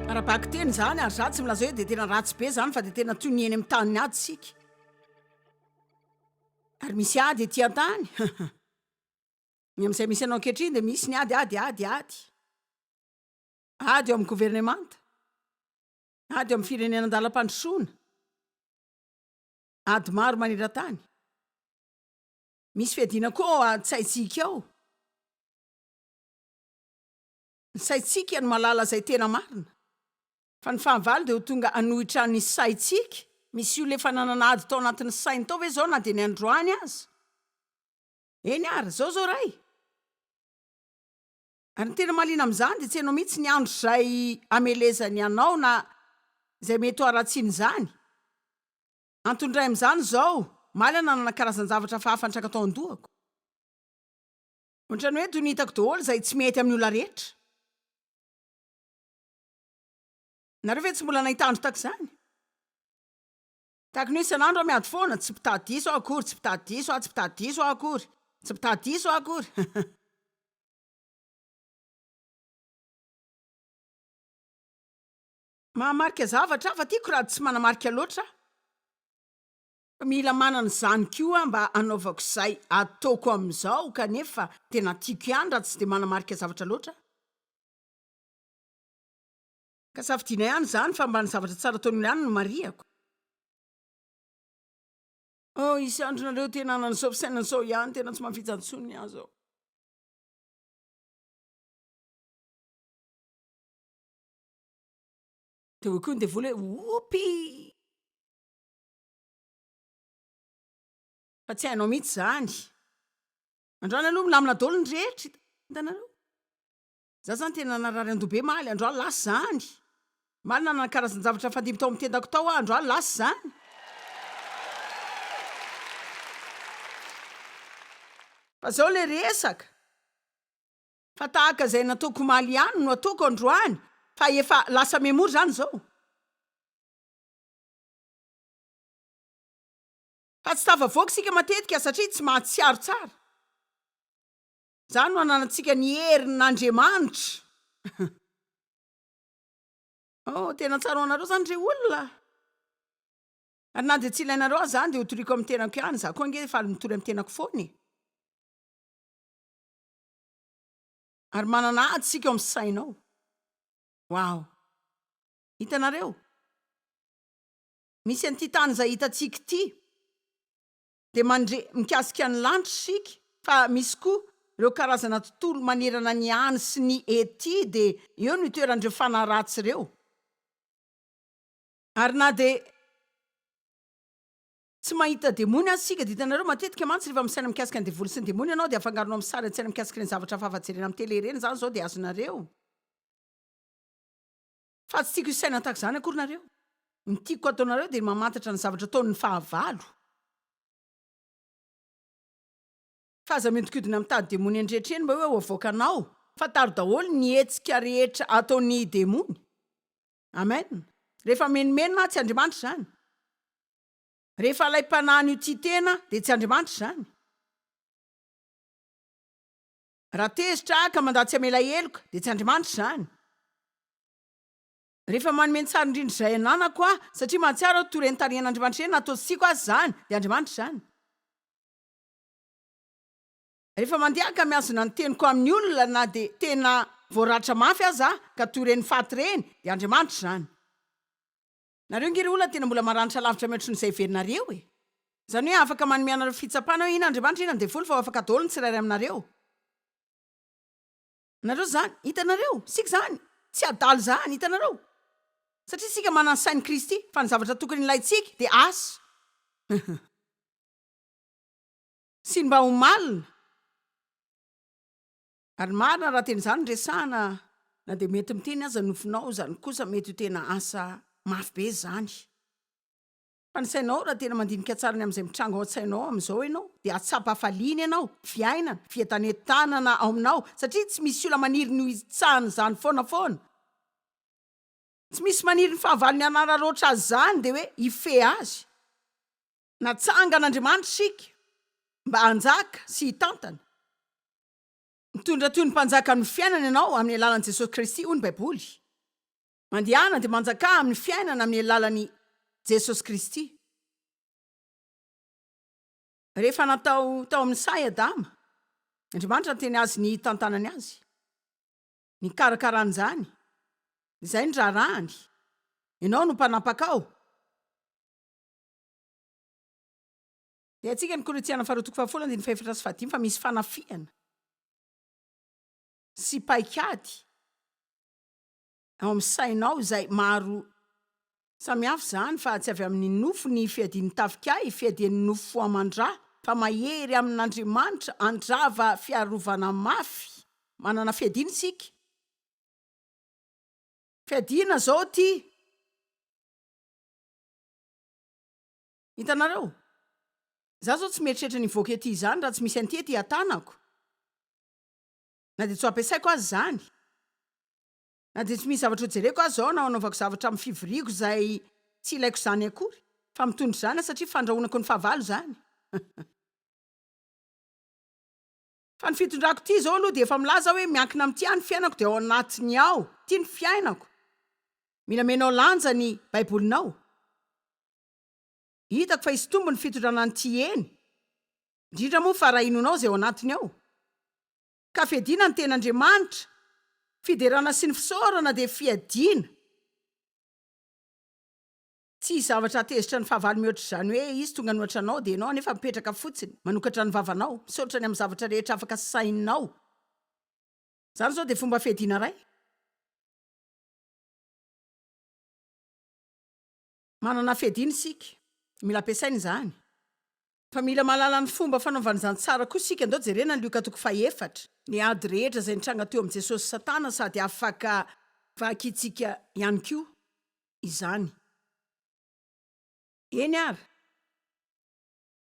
Ara-bakiteny izany ary izaho tsy milaza hoe dia tena ratsy be izany fa dia tena toy ny eny amin'ny tany ady isika. Ary misy ady ety an-tany. Ny amin'izay misy anao ankehitriny dia misy ny ady, ady, ady, ady. Ady eo amin'ny governemanta. Ady eo amin'ny firenena an-dalam-pandrosoana. Ady maro maneran-tany. Misy fiadiana koa ao an-tsaintsika ao. Ny saintsika no mahalala izay tena marina. Fa ny fahavalo dia ho tonga hanohitra ny saintsika. Misy olona efa nanana ady tao anatin'ny sainy tao ve izao na dia ny androany aza? Eny ary, izao izao Ray. Ary ny tena mahaliana amin'izany dia tsy hainao mihitsy ny andro izay hamelezany anao na izay mety ho haratsian'izany. Antony iray amin'izany izao, omaly aho nanana karazan-javatra hafahafa nitraka tao an-dohako. Ohatran'ny hoe toy ny hitako daholo izay tsy mety amin'ny olona rehetra. Nareo ve tsy mbola nahita andro tahaka izany? Tahaka ny hoe isan'andro aho miady foana, tsy mpitady diso aho akory, tsy mpitady diso aho, tsy mpitady diso aho akory, tsy mpitady diso aho akory. Mahamarika zavatra hafa tiako raha tsy manamarika loatra aho. Fa mila manana izany koa aho mba hanaovako izay ataoko amin'izao kanefa tena tiako ihany raha tsy dia manamarika zavatra loatra aho. Ka safidiana ihany izany fa mba ny zavatra tsara ataon'olona ihany no marihako. Oh hisy andro nareo tena hanan'izao fisainana izao ihany tena tsy mafija intsony ny ahy zao. Dia hoy koa ny devoly hoe whoopy fa tsy hainao mihitsy izany. Androany aloha milamina daholo ny rehetra hitanareo. Za zany tena narary andoha be maly andro aly lasa zany maly nanana karazanjavatra nifandimby tao am tendako tao aho andro aly lasa zany. Fa zao le resaka fa tahaka zay nataoko omaly ihany no ataoko androany fa efa lasa memory zany zao fa tsy tafavoaka isika matetika satria tsy mahatsiaro tsara. Izany no ananantsika ny herin' Andriamanitra. Oh, tena tsara ho anareo izany re olona a! Ary na dia tsy ilainareo aza izany dia hotoriako amin'ny tenako ihany, izaho koa ange faly mitory amin'ny tenako foana e! Ary manana ady isika ao amin'ny saina ao. Wow! Hitanareo? Misy an'ity tany izay hitantsika ity. dia mandre mikasika ny lanitra isika fa misy koa ireo karazana tontolo manerana ny any sy ny ety dia eo no itoeran'ireo fanahy ratsy ireo ary na dia tsy mahita demony aza isika dia hitanareo matetika mantsy rehefa misaina mikasika ny devoly sy ny demony ianao dia afangaronao amin'ny sary an-tsaina mikasika ireny zavatra hafa jerena amin'ny tele ireny izany izao dia azonareo Fa tsy tiako hisaina tahaka izany akory nareo. Ny tiako hataonareo dia ny mamantatra ny zavatra ataon' ny fahavalo. Fa aza mihodinkodina mitady demony eny rehetra eny mba hoe ho avoakanao. Fa taro daholo ny hetsika rehetra ataon' ny demony. Amen. Rehefa menomenona aho, tsy Andriamanitra izany. Rehefa ilay mpanahin' io tia tena dia tsy Andriamanitra izany. Raha tezitra aho ka mandà tsy hamela heloka, dia tsy Andriamanitra izany. Rehefa manome ny tsara indrindra izay ananako aho, satria mahatsiaro aho toa ireny tarihan'Andriamanitra ireny na toa tsy tiako aza izany, dia Andriamanitra izany. Rehefa mandeha ka mihazona ny teniko amin'ny olona na dia tena voaratra mafy aza aho, ka toa ireny faty ireny, dia Andriamanitra izany. Nareo nge ry olona tena mbola maranitra lavitra mihoatry ny zay heverinareo e! Zany hoe afaka manome anareo fitsapana hoe ina Andriamanitra ina ny devoly fa ho afaka daholo ny tsirairay aminareo. Nareo zany. Hitanareo? Isika zany. Tsy adala izany. Hitanareo? Satria isika manana ny sain'i Kristy, fa ny zavatra tokony ilaintsika dia asa. Sy ny mba ho malina. Ary marina raha tena izany no resahana, na dia mety miteny aza ny nofinao, izany kosa mety ho tena asa mafy be izany. Fa ny sainao, raha tena mandinika tsara ny amin'izay mitranga ao an-tsainao amin'izao ianao, dia hahatsapa hafaliana ianao, fiainana, fientanentanana ao aminao, satria tsy misy olona maniry ny ho hitsahana izany foana foana. Tsy misy maniry ny fahavalony hanararaotra azy izany, dia hoe hifehy azy. Natsangan'Andriamanitra isika mba hanjaka sy hitantana. Mitondra toy ny mpanjaka amin'ny fiainana ianao amin'ny alalan'i Jesosy Kristy, hoy ny Baiboly. Mandehana dia manjakà amin'ny fiainana amin'ny alalan'i Jesosy Kristy. Rehefa natao tao amin'ny saha i Adama, Andriamanitra niteny azy ny hitantanany azy, ny hikarakarany izany, izay ny raharahany, Ianao no mpanapakao. Rehatsika ny Korintiana faharoa toko fahafolo andininy fahefatra sy fahadimy fa misy fanafihana sy paikady ao amin'ny sainao izay maro samihafa izany fa tsy avy amin'ny nofo ny fiadian'ny tafika ahy, fiadian'ny nofo fo aman-dra fa mahery amin'Andriamanitra handrava fiarovana mafy. Manana fiadiana isika. Fiadiana izao ity. Hitanareo? Izaho izao tsy mieritreritra ny hivoaka ety izany raha tsy misy an'ity ety an-tanako. Na dia tsy ho ampiasaiko aza izany. Na dia tsy misy zavatra hojereko aza ao na hanaovako zavatra amin'ny fivoriako izay tsy ilaiko izany akory, fa mitondra izany aho satria fandrahonako ny fahavalo izany. Fa ny fitondrako ity izao aloha dia efa milaza aho hoe miankina amin'ity aho ny fiainako dia ao anatiny ao ity ny fiainako. Mila menao lanja ny Baibolinao. Hitako fa hisy tombony fitondrana an'ity eny, indrindra moa fa raha inoanao izay ao anatiny ao. Ka fiadiana ny ten'Andriamanitra, fiderana sy ny fisaorana dia fiadiana. Tsy hisy zavatra hahatezitra ny fahavalo mihoatr'izany hoe izy tonga an'ohatra anao dia ianao anefa mipetraka fotsiny manokatra ny vavanao, misaotra ny amin'ny zavatra rehetra afaka sahininao. Izany izao dia fomba fiadiana iray. Manana fiadiana isika. Mila ampiasaina izany. Fa mila mahalala ny fomba fanaovana izany tsara koa isika. Andao jerena ny Lioka toko fahefatra. Ny ady rehetra izay nitranga teo amin'i Jesosy sy Satana sady afaka. Vakintsika ihany koa izany. Eny ary.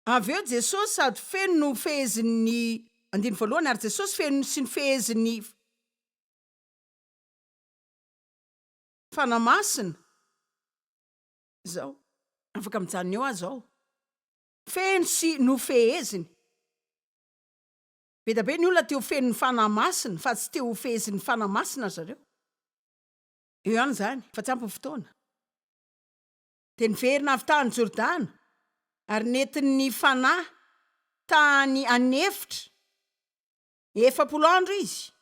Avy eo Jesosy sady feno no fehezin'ny andininy voalohany ary Jesosy feno sy ny fehezin'ny. Fanahy Masina izao. Afaka mijanona eo aza aho. Feno sy nofeheziny. Be dia be ny olona te ho feno ny Fanahy Masina fa tsy te ho fehezin'ny Fanahy Masina ry zareo. Eo ihany izany fa tsy ampy ny fotoana. Dia niverina avy tany Jordana ary nentin'ny Fanahy tany an'efitra efapolo andro izy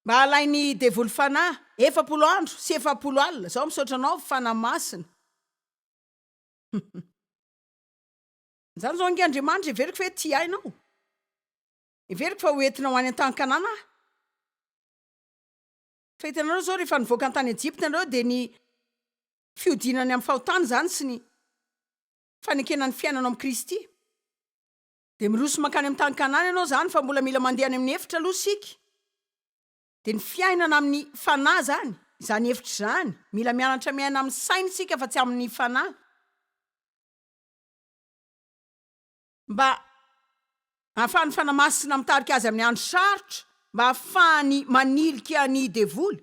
mba halainy devoly fanahy efapolo andro sy efapolo alina zao misaotra anao fanahy masina zany zao nge Andriamanitra heveriko ve tia ahy nao heveriko fa ho entina ho any an-tany kanana aho fa hitanareo zao rehefa nivoaka ny tany Ejipta nareo de ny fiodinany amin'ny fahotana zany sy ny fanekena ny fiainana ao amin'i Kristy Dia miroso mankany amin'ny tany Kanana ianao izany fa mbola mila mandeha any amin'ny efitra aloha isika. Dia ny fiainana amin'ny fanahy izany, izany efitra izany. Mila mianatra miaina amin'ny saina isika fa tsy amin'ny fanahy. Mba ahafahan'ny Fanahy Masina mitarika azy amin'ny andro sarotra, mba ahafahany manilika ny devoly.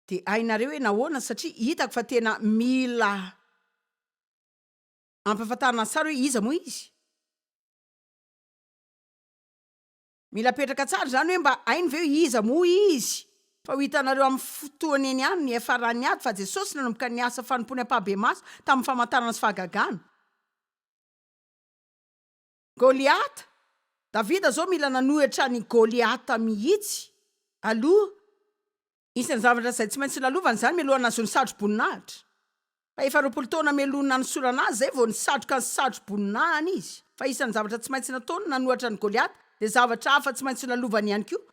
Dia hainareo hoe nahoana, satria hitako fa tena mila Ampahafantarina tsara hoe iza moa izy. Mila apetraka tsara izany hoe mba hainy ve hoe iza moa izy. Fa ho hitanareo amin'ny fotoana eny ihany ny FRAn'ny ady fa Jesosy nanomboka ny asa fanompoany ampahabe-maso tamin'ny famantarana sy fahagagana. Goliata, Davida zao mila nanohitra an'i Goliata mihitsy aloha, isan'ny zavatra izay tsy maintsy lalovany izany mialoha nahazo ny satroboninahitra. Fa efa roapolo taona mialoha ny nanosorana azy izay vao nisatroka ny satroboninahany izy. Fa isan'ny zavatra tsy maintsy nataony nanohitra an'i Goliata dia zavatra hafa tsy maintsy lalovany ihany koa,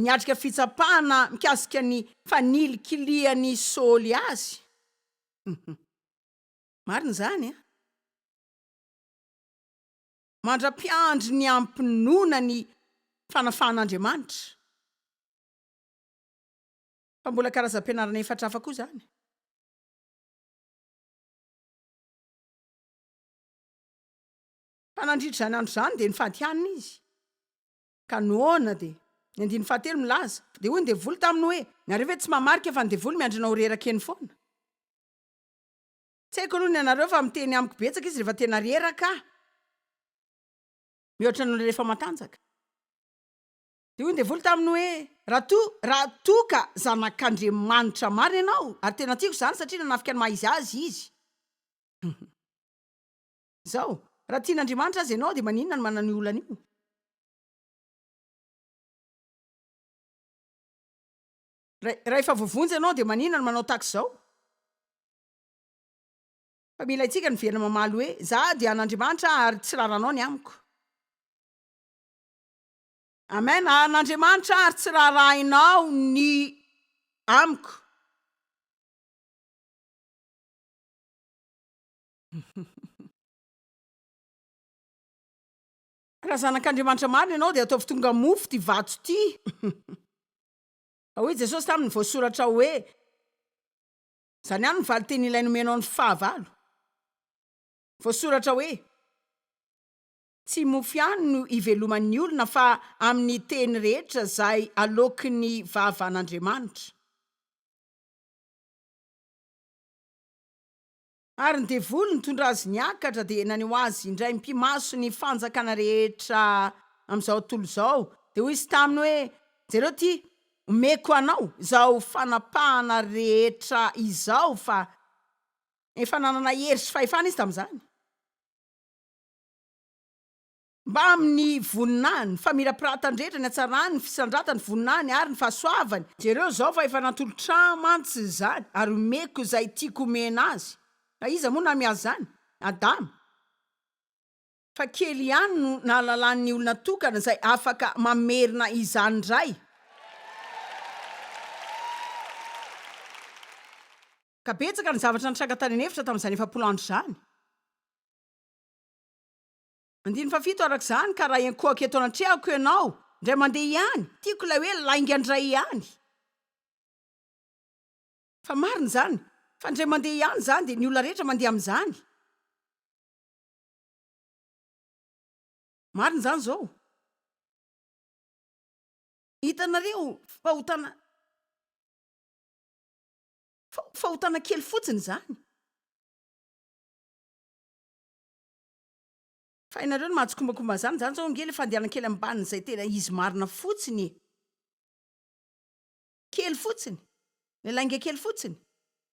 niatrika fitsapana mikasika ny fanilikilian'i Saoly azy. Marina izany an! mandra-piandry ny hampinoana ny fanafahan'Andriamanitra. Fa mbola karazam-pianarana efatra hafa koa izany. Fa nandritra izany andro izany dia nifadihanina izy. Ka noana dia ny andininy fahatelo milaza fa dia hoy ny devoly taminy hoe, Nareo ve tsy mamarika fa ny devoly miandry anao ho reraka eny foana? Tsy haiko aloha ny anareo fa miteny amiko betsaka izy rehefa tena reraka mihoatra noho ny rehefa matanjaka. Dia hoy ny devoly taminy hoe, Raha toa, raha toa ka zanak'Andriamanitra marina ianao, ary tena tiako izany satria nanafika ny maha izy azy izy. Izao, raha tian'Andriamanitra aza ianao dia maninona no manana io olana io? Raha, raha efa voavonjy ianao dia maninona no manao tahaka izao? Fa mila haintsika ny miverina mamaly hoe, Za dia an'Andriamanitra ary tsy raharanao ny amiko. Amen, an'Andriamanitra ary tsy raharahainao ny amiko. Raha zanak'Andriamanitra marina ianao dia ataovy tonga mofo ity vato ity. Hoy Jesosy taminy, voasoratra hoe, Izany ihany ny valinteny ilay nomenao ny fahavalo. Voasoratra hoe, Tsy mofo ihany no iveloman'ny olona fa amin'ny teny rehetra izay aloakin'ny vavan'Andriamanitra. Ary ny devoly nitondra azy niakatra dia naneho azy indray mpimaso ny fanjakana rehetra amin'izao tontolo izao, dia hoy izy taminy hoe, Jereo ity, Omeko anao izao fanapahana rehetra izao fa efa nanana hery sy fahefana izy tamin'izany. Mbamin'ny voninahiny, famirapiratany rehetra, ny hatsarany, ny fisandratany, voninahiny ary ny fahasoavany. Jereo izao fa efa natolotra ahy mantsy izany, ary omeko izay tiako omena azy. Ka iza moa namiaza izany? Adama. fa kely ihany no nahalalan'ny olona tokana izay afaka mamerina izany indray, ka betsaka ny zavatra nitranga tany an'efitra tamin'izany efapolo andro izany. Andininy fahafito araka izany, ka raha hiankohaka eto anatrehako ianao indray mandeha ihany, tiako ilay hoe lainga indray ihany, fa marina izany, fa indray mandeha ihany izany dia ny olona rehetra mandeha amin'izany, Marina izany izao. Hitanareo fahotana fahotana kely fotsiny izany. Fa hainareo ny mahatsikombakomba an'izany, izany izao ange ilay fandehanan-kely ambanin'izay tena izy marina fotsiny e. kely fotsiny, ilay lainga kely fotsiny,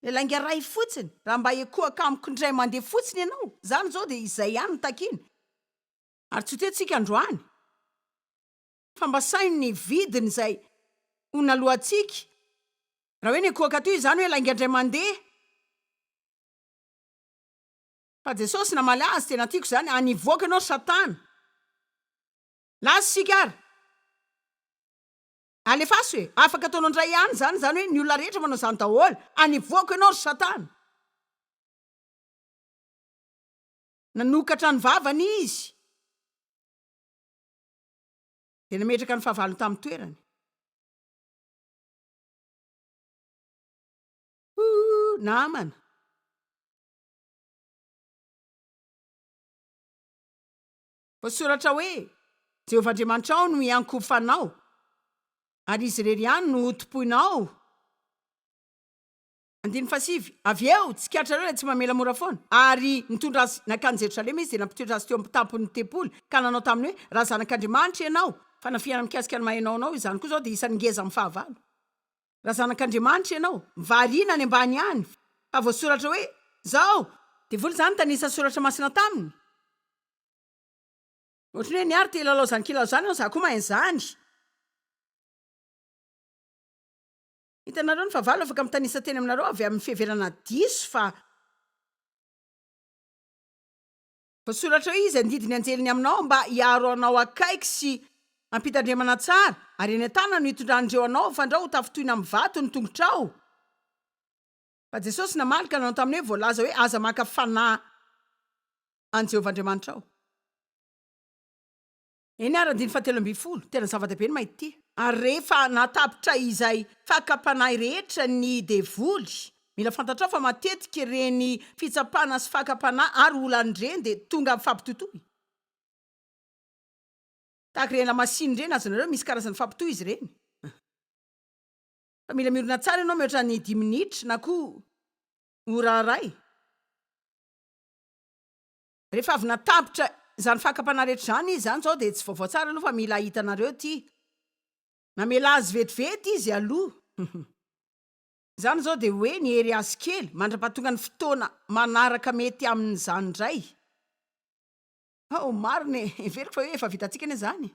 ilay lainga iray fotsiny, raha mba ekohaka amiko indray mandeha fotsiny ianao, izany izao dia izay ihany no takiany. Ary tsy ho tentsika androany, fa mba saino ny vidiny izay ho naloantsika, raha hoe nekohaka teo izany hoe lainga indray mandeha. Fa Jesosy namaly azy, tena tiako izany, Any hivoaka ianao Satana! Lasa isika ary! Alefaso e! Afaka ataonao indray ihany izany izany hoe ny olona rehetra manao izany daholo! Anevoako ianao ry satana! Nanokatra ny vavany izy dia nametraka ny fahavalony tamin'ny toerany. Ooh, namana. Voasoratra hoe, Jehovah Andriamanitrao no hiankohofanao, ary izy irery ihany no hotompoinao. Andininy fahasivy, Avy eo, tsikatrareo ilay tsy mamela mora foana. Ary nitondra azy nankany Jerosalema izy dia nampitoetra azy teo amin'ny tampon'ny tempoly, ka nanao taminy hoe, Raha Zanak'Andriamanitra ianao, fanafihana mikasika ny maha ianao anao, izany koa izao dia isan'ny ngeza amin'ny fahavalo. Raha Zanak'Andriamanitra ianao, variana any ambany ihany, fa voasoratra hoe, Izao, Devoly izany tanisa soratra masina taminy. Ohatry ny hoe ny ahy ry te hilalao izany kilalao izany fa za koa mahay an'izany. Hitanareo ny fahavalo afaka mitanisa teny aminareo avy amin'ny fiheverana diso fa. Voasoratra hoe izy handidy ny anjeliny aminao mba hiaro anao akaiky sy hampitandremana tsara, ary eny an-tanany no hitondran'ireo anao fa andrao ho tafintohina amin'ny vato ny tongotrao. Fa Jesosy namaly ka nanao taminy hoe, Voalaza hoe, Aza maka fanahy an'i Jehovah Andriamanitrao. Eny àry, andininy fahatelo ambin'ny folo, tena zava-dehibe ny mahita ity. Ary rehefa nahatapitra izay fakam-panahy rehetra ny devoly, mila fantatrao fa matetika ireny fitsapana sy fakam-panahy ary olana ireny dia tonga amin'ny fampitotoy. Tahaka ireny lamasinina ireny, azonareo, misy karazana fampitohy izy ireny. Fa mila miorina tsara ianao mihoatra ny dimy minitra na koa ora iray. Rehefa avy natapitra izany fakam-panahy rehetra izany izy, izany izao dia tsy vaovao tsara aloha fa mila hitanareo ity, namela azy vetivety izy aloha. Izany izao dia hoe nihery azy kely, mandra-pahatonga ny fotoana manaraka mety amin'izany indray. Hao, marina e! Heveriko fa hoe efa vitantsika anie izany.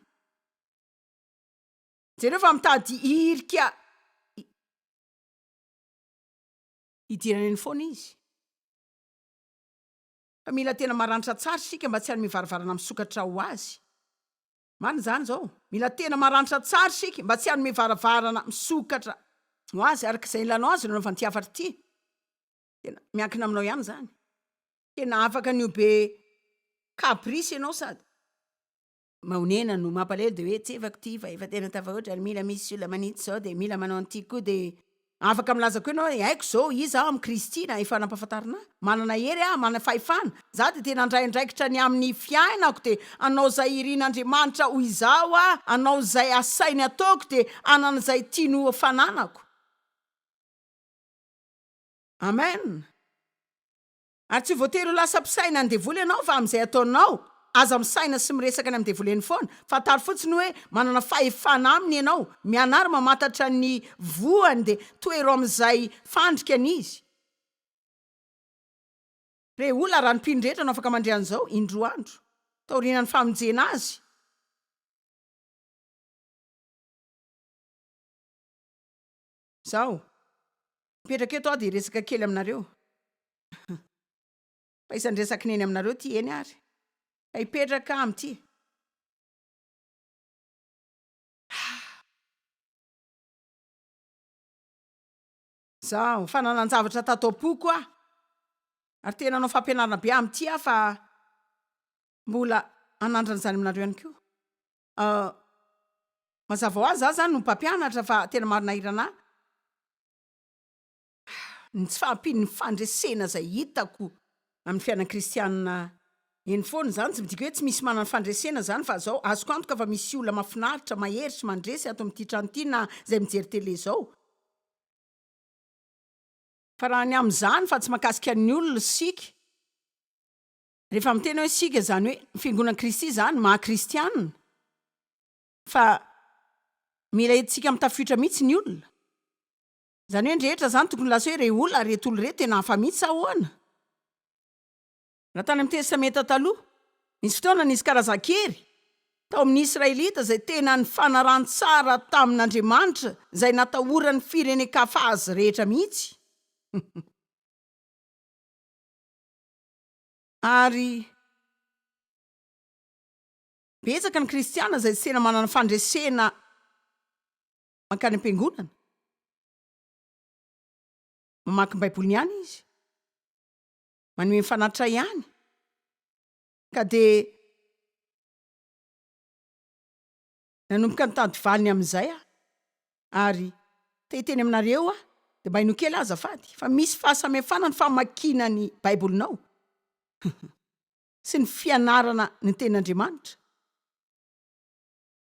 Jereo fa mitady hirika hidirana eny foana izy. Fa mila tena maranitra tsara isika mba tsy hanome varavarana misokatra ho azy. Marina izany izao. Mila tena maranitra tsara isika mba tsy hanome varavarana misokatra ho azy. Araka izay nilanao azy ireo nanaovana ity hafatra ity. Tena miankina aminao ihany izany. Tena afaka ny ho be caprice ianao sady. mahonena no mampalahelo dia hoe tsy efako ity fa efa tena tafahoatra ary mila misy olona manitsy izao dia mila manao an'ity koa dia afaka milaza koa ianao hoe haiko izao iza aho amin'i Kristy na efa nampahafantarina ahy manana hery aho manana fahefana izaho dia tena handray andraikitra ny amin'ny fiainako dia hanao izay irin'Andriamanitra ho izaho aho hanao izay asainy ataoko dia hanana izay tiany ho fananako Amen. Ary tsy voatery ho lasa mpisaina ny devoly ianao fa amin'izay ataonao, aza misaina sy miresaka any amin'ny devoly eny foana, fantaro fotsiny hoe manana fahefana aminy ianao, mianara mamantatra ny voany dia tohero amin'izay fandrikany izy. Re olona, raha ny mpino rehetra no afaka mandre an'izao, indroa andro, taoriana ny famonjena azy, Izaho, mipetraka eto aho dia hiresaka kely aminareo. Fa isan'ny resaky neny aminareo ity eny ary. Ka hipetraka aho amin'ity. Izaho, fa nanan-javatra tato am-poko aho. Ary te nanao fampianarana be amin'ity aho fa mbola hanandrana izany aminareo ihany koa. Ah mazava ho azy za zany no mpampianatra fa tena maro nahirana ahy ny tsy fahampian'ny fandresena zay hitako amin'ny fiainan'ny kristianina eny foana, zany tsy midika hoe tsy misy manana fandresena zany fa zao azoko antoka fa misy olona mafinaritra mahery sy mandresy ato amin'ity trano ity na zay mijery tele zao, fa raha ny amin'izany fa tsy mahakasika ny olona isika. Rehefa miteny hoe isika izany hoe ny fiangonan'i Kristy izany ny maha kristiana fa mila entintsika amin'ny tafiotra mihitsy ny olona. Izany hoe ny rehetra izany tokony lasa hoe re olona ary ireto olona ireto tena hafa mihitsy sa ahoana? Raha tany amin'ny Testamenta Taloha, nisy fotoana nisy karazan-kery tao amin'ny Israelita izay tena nifanaran-tsara tamin'Andriamanitra izay natahoran'ny firenen-kafa azy rehetra mihitsy. Ary betsaka ny kristiana izay tsy tena manana fandresena mankany am-piangonana. Mamaky ny Baiboliny ihany izy, manome ny fanatrray ihany, ka dia Nanomboka nitady valiny amin'izay aho ary te hiteny aminareo aho, dia mba ino kely aho azafady fa misy fahasamihafana ny famakiana ny Baibolinao sy ny fianarana ny Tenin'Andriamanitra?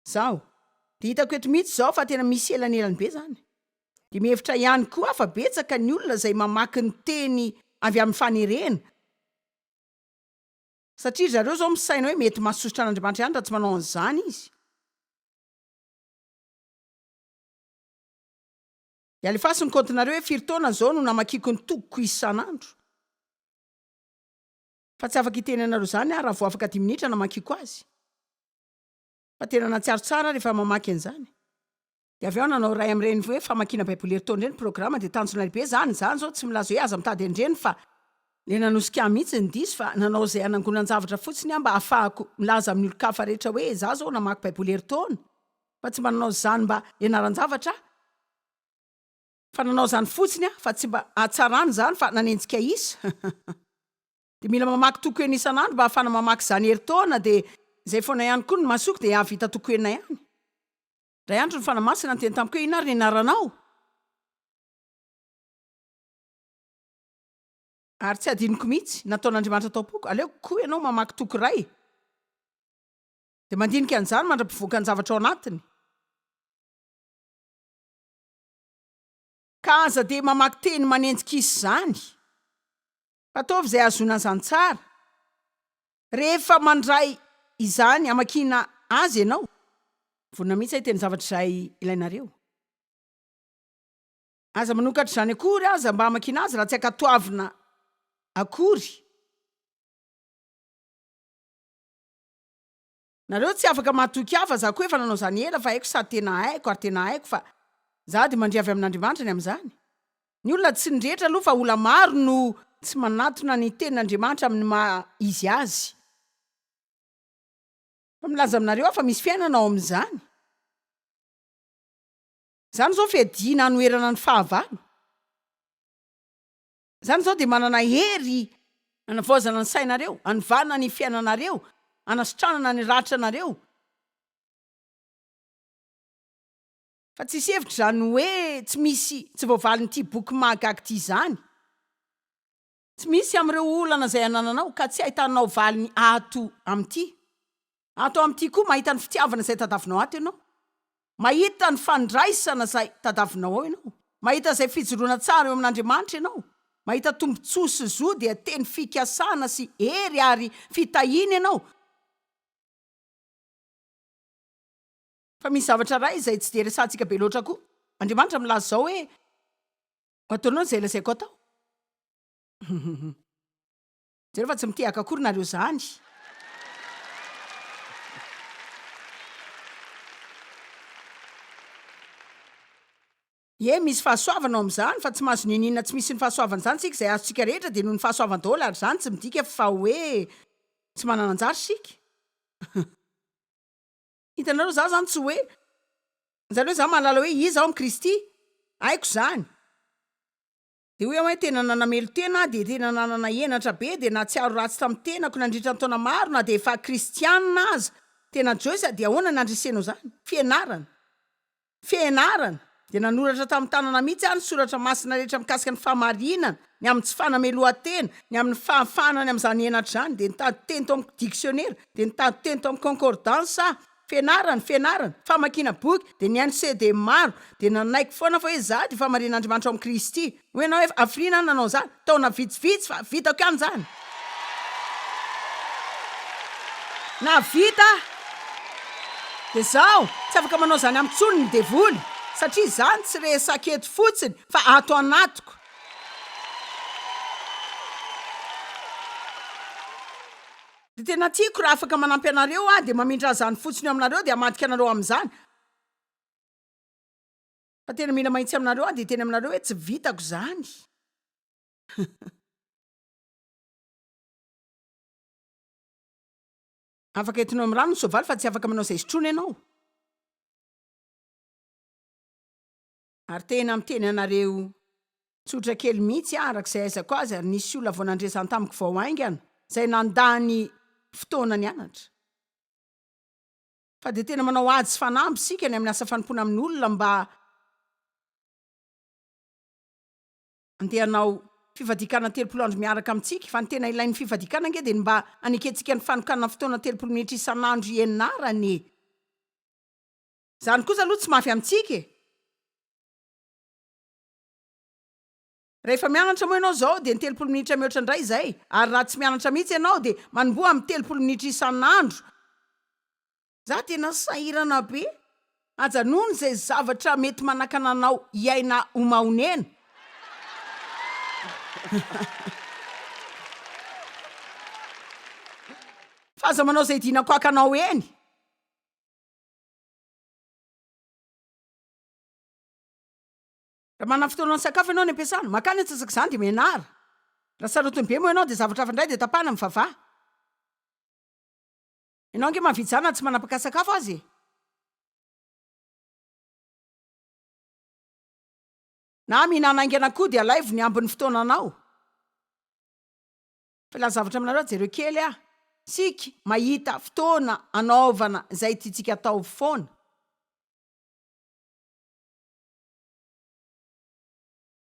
Izaho dia hitako eto mihitsy izao fa tena misy elanelany be izany. Dia mihevitra ihany koa aho fa betsaka ny olona izay mamaky ny Teny avy amin'ny fanerena, Satria ry zareo izao misaina hoe mety mahasosotra an'Andriamanitra ihany raha tsy manao an'izany izy. Ialefaso ny kaontinareo hoe firy taona izao no namakiako ny tokiko isan'andro. Fa tsy afaka hiteny anareo izany aho raha vao afaka dimy minitra namakiako azy. Fa tena nahatsiaro tsara aho rehefa mamaky an'izany. Dia avy eo nanao iray amin'ireny hoe famakiana Baiboly herintaona ireny programa dia tanjona lehibe izany. Izany izao tsy milaza hoe aza mitady an'ireny fa. Ilay nanosika ahy mihitsy ny diso fa nanao izay hanangonan-javatra fotsiny aho mba hahafahako milaza amin'ny olon-kafa rehetra hoe izaho izao namaky Baiboly herintaona. Fa tsy mba nanao izany mba hianaran-javatra aho. Fa nanao izany fotsiny aho fa tsy mba hahatsarana izany fa nanenjika isa. Dia mila mamaky toko enina isan'andro mba hahafana mamaky izany herintaona dia izay foana ihany koa ny masoko dia hahavita toko enina ihany. Ray andro ny Fanahy Masina niteny tamiko hoe, Inona ary ny anaranao? Ary tsy hadinoko mihitsy, nataon'Andriamanitra tao am-poko, aleoko koa ianao mamaky toko iray, dia mandinika an'izany mandra-pivoakan'ny zavatra ao anatiny. Ka aza dia mamaky teny manenjik'isa izany. Ataovy izay ahazoana an'izany tsara. Rehefa mandray izany hamakiana azy ianao, vonona mihitsy hiteny zavatra izay ilainareo. Aza manokatra izany akory aza mba hamakiana azy raha tsy ankatoavina akory. Nareo tsy afaka mahatoky ahy fa za koa efa nanao zany ela fa haiko sady tena haiko ary tena haiko fa za de mandria avy amin'Andriamanitra ny amin'izany. Ny olona tsy ny rehetra aloha fa ola maro no tsy manatona ny tenin'Andriamanitra amin'ny maha izy azy. Fa milaza aminareo aho fa misy fiainana ao amin'izany. Izany izao fiadiana hanoherana ny fahavalo. Izany izao dia manana hery hanavaozana ny sainareo, hanivanana ny fiainanareo, hanasitranana ny ratranareo. Fa tsy hisy hevitra izany hoe tsy misy tsy voavalin'ity boky mahagaga ity izany. Tsy misy amin'ireo olana izay anananao ka tsy ahitanao valiny ato amin'ity. Ato amin'ity koa mahita ny fitiavana izay tadavinao ato ianao. Mahita ny fandraisana izay tadavinao ao ianao. Mahita izay fijoroana tsara eo amin'Andriamanitra ianao. Mahita tombontsoa sy zo dia teny fikasana sy hery ary fitahiana ianao. Fa misy zavatra iray izay tsy dia resahantsika be loatra koa. Andriamanitra milaza izao hoe, Ho ataonao izay lazaiko atao. Jereo fa tsy mitehaka akory nareo zany. Ie misy fahasoavana ao amin'izany fa tsy mahazo niniana tsy misy ny fahasoavana izany isika izay azontsika rehetra dia noho ny fahasoavany daholo ary izany tsy midika fa hoe tsy manana anjara isika hitanareo za zany tsy hoe zany hoe za mahalala hoe iza aho amin'i Kristy haiko izany Dia hoy aho hoe tena nanamelo-tena aho, dia tena nanana henatra be, dia nahatsiaro ratsy tamin'ny tenako nandritra ny taona maro na dia efa kristiana aza. Tena Joyce, dia ahoana ny handresenao izany? Fianarana. Fianarana! Dia nanoratra tamin'ny tanana mihitsy aho ny soratra masina rehetra mikasika ny fahamarinana, ny amin'ny tsy fanamelohan-tena, ny amin'ny fahafahana any amin'izany henatra izany. Dia nitady teny tao amin'ny diksionera, dia nitady teny tao amin'ny concordance aho, Fianarana, fianarana, famakiana boky, dia nihaino CD maro, dia nanaiky foana fa hoe izaho dia famarian'Andriamanitra ao amin'i Kristy. Hoy ianao hoe, hafiriana aho nanao izany, taona vitsivitsy, fa vitako ihany izany. Nahavita aho. Dia izaho, tsy afaka manao izany amiko intsony ny devoly, satria izany tsy resaka eto fotsiny, fa ato anatiko. Dia tena tiako raha afaka manampy anareo aho dia mamindra an'izany fotsiny eo aminareo dia hamadika anareo amin'izany fa tena mila mahitsy aminareo aho dia teny aminareo hoe tsy vitako izany afaka entinao amin'ny rano ny soavaly fa tsy afaka manao izay sotroina ianao Ary tena miteny anareo tsotra kely mihitsy aho araka izay aizako azy ary nisy olona vao nandresany tamiko vao haingana izay nandany fotoana nianatra fa dia tena manao ady sy fanamby isika ny amin'ny asa fanompoana amin'olona mba andeha hanao fifadiakana telopolo andro miaraka amintsika fa ny tena ilain'ny fifadiakana ange dia ny mba hanekentsika ny fanokanana fotoana telopolo minitra isan'andro hianarana e! Izany kosa aloha tsy mafy amintsika e! Rehefa mianatra moa ianao izao dia ny telopolo minitra mihoatra indray izay, ary raha tsy mianatra mihitsy ianao dia manomboha amin'ny telopolo minitra isan'andro. Za tena sahirana be. Ajanony izay zavatra mety manakana anao hiaina ho mahonena. Fa aza manao izay dinakoakanao eny. Raha manana fotoana misakafo ianao any am-piasana, mankany antsasak'izany dia mianara. Raha sarotiny be moa ianao dia zavatra hafa indray dia tapahana ny vava. Ianao ange mahavita izany na tsy manapaka sakafo aza e! Na mihinana haingana koa dia alaivo ny ambin'ny fotoananao. Filaza zavatra aminareo jereo kely ah! Tsika mahita fotoana anaovana zay tiantsika atao foana.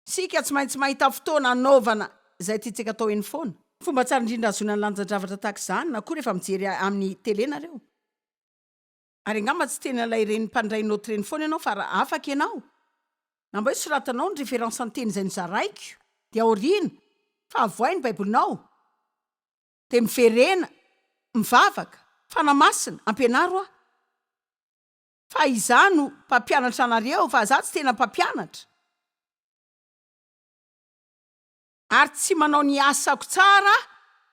Tsika tsy maintsy mahita fotoana anaovana zay tiantsika atao eny foana. Fomba tsara indrindra ahazoana ny lanjan-javatra tahaka izany na koa rehefa mijery amin'ny tele nareo. Ary angamba tsy tena ilay reny mpandray note reny foana ianao fa raha afaka ianao na mba hoe soratanao ny référence an-teny izay nozaraiko dia aoriana fa avohay ny baibolinao dia miverena mivavaka Fanahy Masina ampianaro aho fa izaho no mpampianatra anareo fa izaho tsy tena mpampianatra ary tsy manao ny asako tsara aho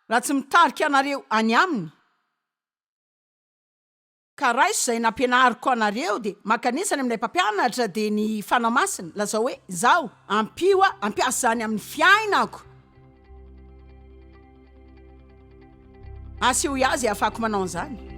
raha tsy mitarika anareo any aminy. Ka raiso izay nampianariko anareo dia mankanesa any amin'ilay mpampianatra dia ny Fanahy Masina, lazao hoe, Izaho, ampio aho hampiasa izany amin'ny fiainako, asehoy ahy izay ahafahako manao an'izany.